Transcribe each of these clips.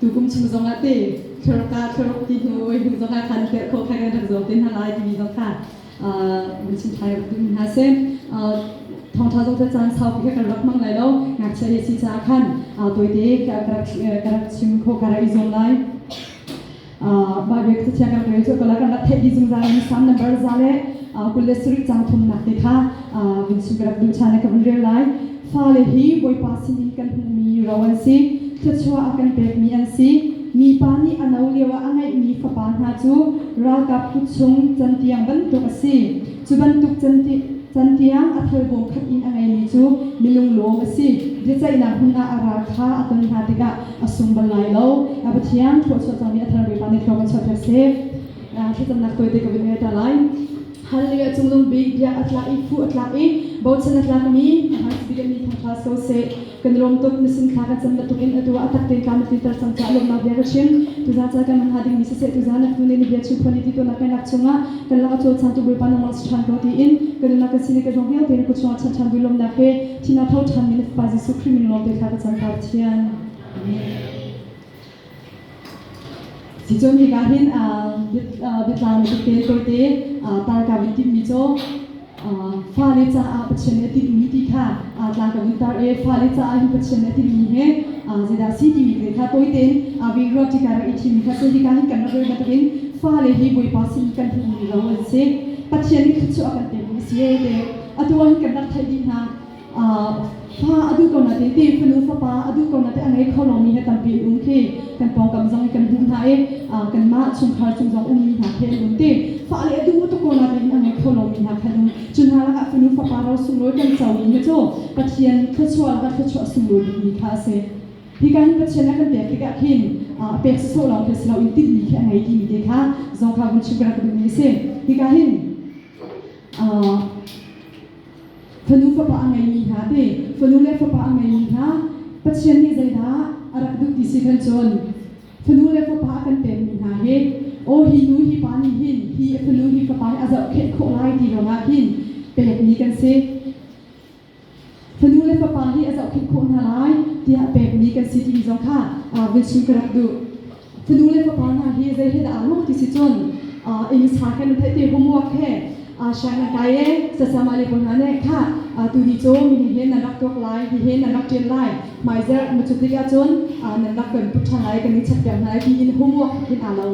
tukum chung zongah te thlorka thloruk ti hnu oi hnu zongah khan tel kho khai kan rak zuam te hna lai timi zong kha min chim thai rak duh hna se thawngtha zong te caan sau pi kan rak mang lai lo ngakchia hi si cha khan toite ka rak chim kho ka rak i zuam lai Bible ka cachia kan rel cu kala kan rak theih dih zungzal mi Psalm number za le kul le sarih cang thumnak te kha vin su ka rak duh chan ka vun rel lai fale hi Bawipa sin in kan hmuhmi ro an si thluachuah a kan pekmi an si mipa nih a no lio ah a ngeihmi fapa hna cu ralkap kut chung can tiang bantuk a si Cu bantuk cantiang a thal bawm khat in a ngeimi cu milunglawm a si. Biaceihnak hmun ah a ral kha a ton hna tikah a sung bal lai lo. A Pathian thluachuah cangmi a thar Bawipa nih thlawp a chuahter seh. Thlacamnak tawite ka vun ngaihter lai. Hal lioah cunglung bik biak a tlak i phu a tlak i bochan a tlakmi a hmaisabik in mi thang hlas ko seh. Kan rawmtuk na sin thla ka cam bantuk in atu ah a tak tein kaa na tlinter cang caah lawmhnak bia ka chim. Tuza ca kan hman hnga dingmi siseh, tuza nak hnu nih na bia chim phuan i ti tuanak kai nak chungah kan lak a cawlcangtu Bawipa nangmah si ṭhan ko tiin ka nunnak ka sining ka zong vialte na kuchungah chanh ṭhan lawmhnak he thihnak tho ṭhanmi na Fapa Jesuh Khrih min lawmte thla ka cam ta Pathian. Amen. Ticun hika hin biatlang biatel tawite tangkam in timmi cu fale caah Pathian nih a timhmi ti kha tlangkam in tar i fale caah hi Pathian nih a timhmi hi zeidah a si timi te kha tawitein vih ruah tikar i thimmi kha si hika hin kan rak rel bantukin fale hi Bawipa sin kan hmuhmi ro an si Pathian nih thluachuah a kan pekmi a si te atu ah hin kan rak theih dih hna hla a duh ko nain ti fanu fapa a duh ko nain a ngei kho lomi he tampi an um khi kan pawngkam zong kan hmuh hna i kanmah chungkhar chung zong ummi hna khi an um ti fale a duh tuk ko nain a ngei kho lomi hna kha an um cu hna lakah fanu fapa ro sunglawi kan co ding hi cu Pathian thluachuah lakah thluachuah sunglawi dingmi kha a si hi kan Pathian a kan pek tikah khin a pek sawsawh lawng khi si loin tinhmi khi a ngei timi te kha Zoka vun chim ka rak duhmi a si hi ka hin Fanu fapa a ngeimi hna te, fanu le fapa a ngeimi hna Pathian nih zeidah a rak duh ti si kan cawn. Fanu le fapa a kan pekmi hna hi aw hi nu hi pa nih hin hi fanu hi fapa hi a zohkheh khawh lai ti lawngah hin pekmi kan si. Fanu le fapa hi a zohkheh khawh hna lai tiah pekmi kan si timi zong kha aa vil chung ka rak duh. fanu le fapa hna hi zei he dah aa lawm ti si cun inn sa he nan theih te homework he siang nan kai e sasama le ko hna nih kha tuni cu mini he nan rak tuak lai hi he nan rak ṭial lai hmaizer macutik ahcun nan rak kan put ṭhan lai kan i chat piak hna lai tiin homework in aa lo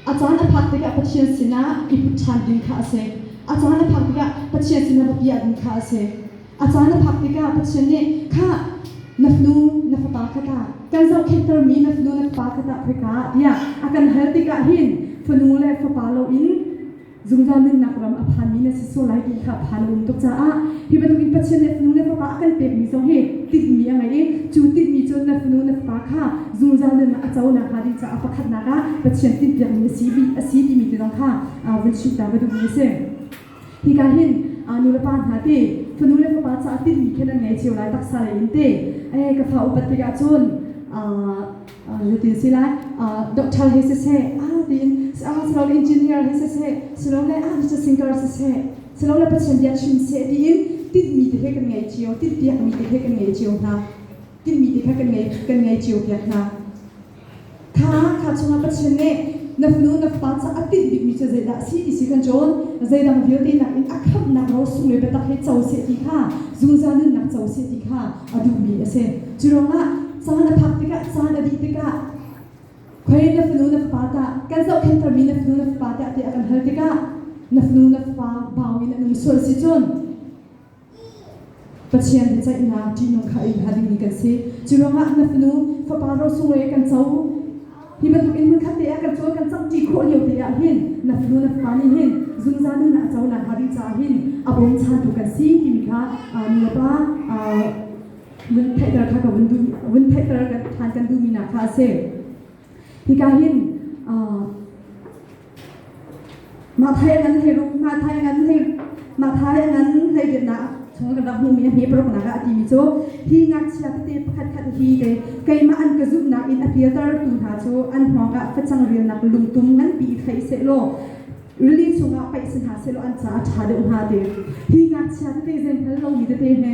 a caan a phak tikah Pathian sinah i put ṭhan ding kha a si a caan a phak tikah Pathian sinah biapi ah ding kha a si A caan a phak tikah Pathian nih kha na fanu na fapa kha ta kan zohkhenhtermi na fanu na fapa kha tah khoika ah tiah a kan hal tikah hin fanu le fapa loin zungzal nunnak ram a phanmi na si sual lai ti kha phan a um tuk caah hi bantukin Pathian nih fanu le fapa a kan pekmi zong hi tinhmi a ngei i cu tinhmi cu na fanu na fapa kha zungzal nunah a co nakhnga ding caah pakhatnak ah Pathian tinhpiakmi a si a si timi te zong kha vun chimter va duhmi a si. Hika hin nulepa hna te fanu le fapa caah tinhmi khin an ngei cio lai taksa lei in te ka fa upat tikah cun zutin si lai doctor hi siseh tiin silole engineer hi siseh silole research singer siseh silole pathian bia chim seh tiin tinhmi te he kan ngei cio tinhpiakmi te he kan ngei cio hna tinhmi te he kan ngei kan ngei cio piak hna Kha chungah Pathian nih na fanu na fapa ca a tinh bikmi cu zeidah a si ti si kan cawn. Zeidang vialte nakin a khamhnak ro sung le biatak he co seh ti kha zungzal nunnak co seh ti kha a duhmi a si. Cu ruangah caan a phak tikah caan a dih tikah khoi na fanu na fapa ta kan zohkhenhtermi na fanu na fapa te a ti a kan hal tikah na fanu na fapa bau in an um sual si cun Pathian biaceihnak ṭihnung kha a in hal dingmi kan si. Cu ruangah na fanu fapa rosung le kan co hi bantuk in hmunkhat te ah kan cawi kan cangṭi khawh lio te ah hin na fanu na fapa nih hin zungzal nun ah a co nakhnga ding caah hin a bawmchantu kan si timi kha nu le pa vun theihter kha ka vun duhmi vun theihter kan ṭhan kan duhmi hna kha a si. Hika hin Mathai angan hlei rum Mathai angan hlei Mathai angan hlei biaknak chung kan rak hmu mi a hme paroknak ah ti mi cu hi ngakchia tete pakhat khat hi te keimah an ka zumhnak in a pialter tu hna cu an hngawng ah facang relnak lungtum nganpi i thei se law rili chungah paih si hna se law an caah ṭha deuh hnga te hi ngakchia tete zen hal lo mi tete he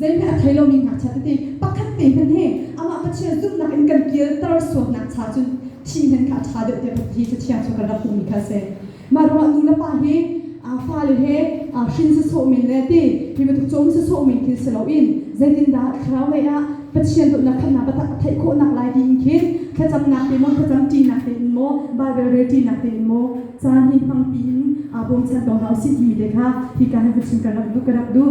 Zeihme a thei lomi ngakchia tete pakhat te hmanh hi amah Pathian zumhnak in kan kialter sualnak cha cun thih hmanh kha a ṭha deuh tiah Pathian hi Cathiang chung kan rak hmuhmi kha a si. Mah ruangah nulepa hi fale he hrin si sawh men le ti hi bantuk cawm si sawh men thil si loin zeitindah thlaraulei ah Pathian dawtnak khamnak a theih khawhnak lai ti in khin thlacamnak te maw thlacam ṭinak te in maw Baibal rel ṭinak te in maw caan hi hmangpi in bawmchan ko hna u sih timi te kha hi ka hin ka chim ka rak duh ka rak duh.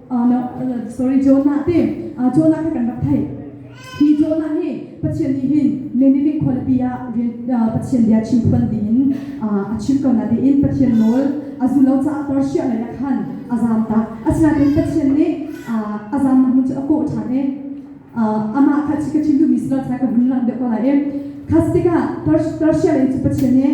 Uh, no, uh, sorry, Jonah te. Uh, Jonah kha kan rak theih. Hi Jonah hi Pathian nih hin Nineveh khualipi ah Pathian bia chim phuan dingin a chim ko na diin Pathian nawl a zulo caah Persia lei ah khan a zam tak. Asinain Pathian nih a zamnak hmun cu a kawh ṭhan e. Amah kha chika chim duhmi silo cai ka hun lang deuh ko lai e. Khas tikah Persia lei cu Pathian nih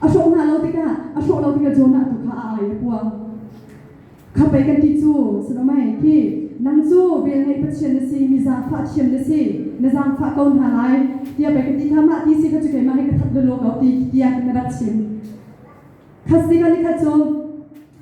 A hrawh hna lo tikah a hrawh lo tikah Jonah tu kha aa ngaihnapuang. Khappei kan ti cu, Salomei khi, nang cu velngeih Pathian na si, mi zaangfah thiam na si, na zaangfah ko hna lai, tiah pei ka ti kha, mah ti si kha cu keimah he ka that lawlaw ko, ti tiang in na rak chim. Kha tikah nikhat cun,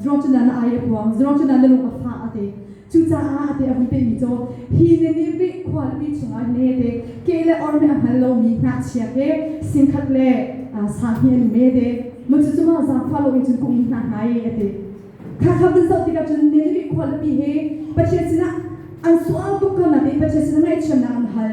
Zuang Cunan a ai a puang. Zuang Cunan na lung a fah a te. Cucaah a te a hun pehmi cu hi ni nih Rih khualipi chungah nete ke le or hme a hngal lomi hnahchia he singkhat le sang hi an mete. Mucucu mah zaangfah loin cun ka um hna hna e a ti. Khakhap nan zoh tikah cun Nineveh khualipi hi Pathian sinah an sual tuk ko na ti Pathian sinah ngaihthiamnak an hal.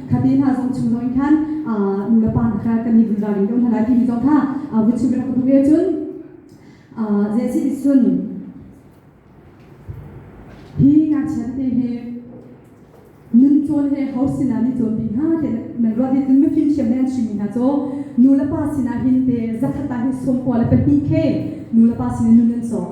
kate hna zong chung zong in khan nulepa hna kha kan i vun ralring deuh hna lai timi zong kha vuchuk rak ka hmuh ve cun Jesse nih cun hi ngakchia tete he nun cawn he ho sinah ni cawn ding ha te nan ruat in mi fimthiam ne an chimmi hna cu nu le pa sinah hin te zakhat ta hi sawm kua le pahnih khe nu le pa sinah nun an sawm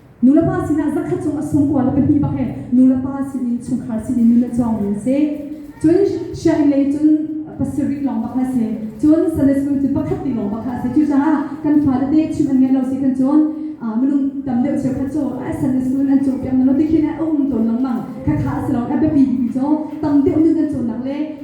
Nulepa sinah zakhat cung a sungkua le pahnih bak he nulepa sinin chungkhar sinin nun a cawngmi an si. Cun sianginn lei cun pasarih lawng bak kha a si. Cun Sunday School cu pakhat te lawng bak kha a si. Cucaah kan fale te chim an ngaih lo si kan cun minung tam deuh cheukhat cu Sunday School in an caw piak manh lo ti khi a um tawn lengmang. Khakha a si lo. A biapi bikmi cu tam deuh nun an cawnnak le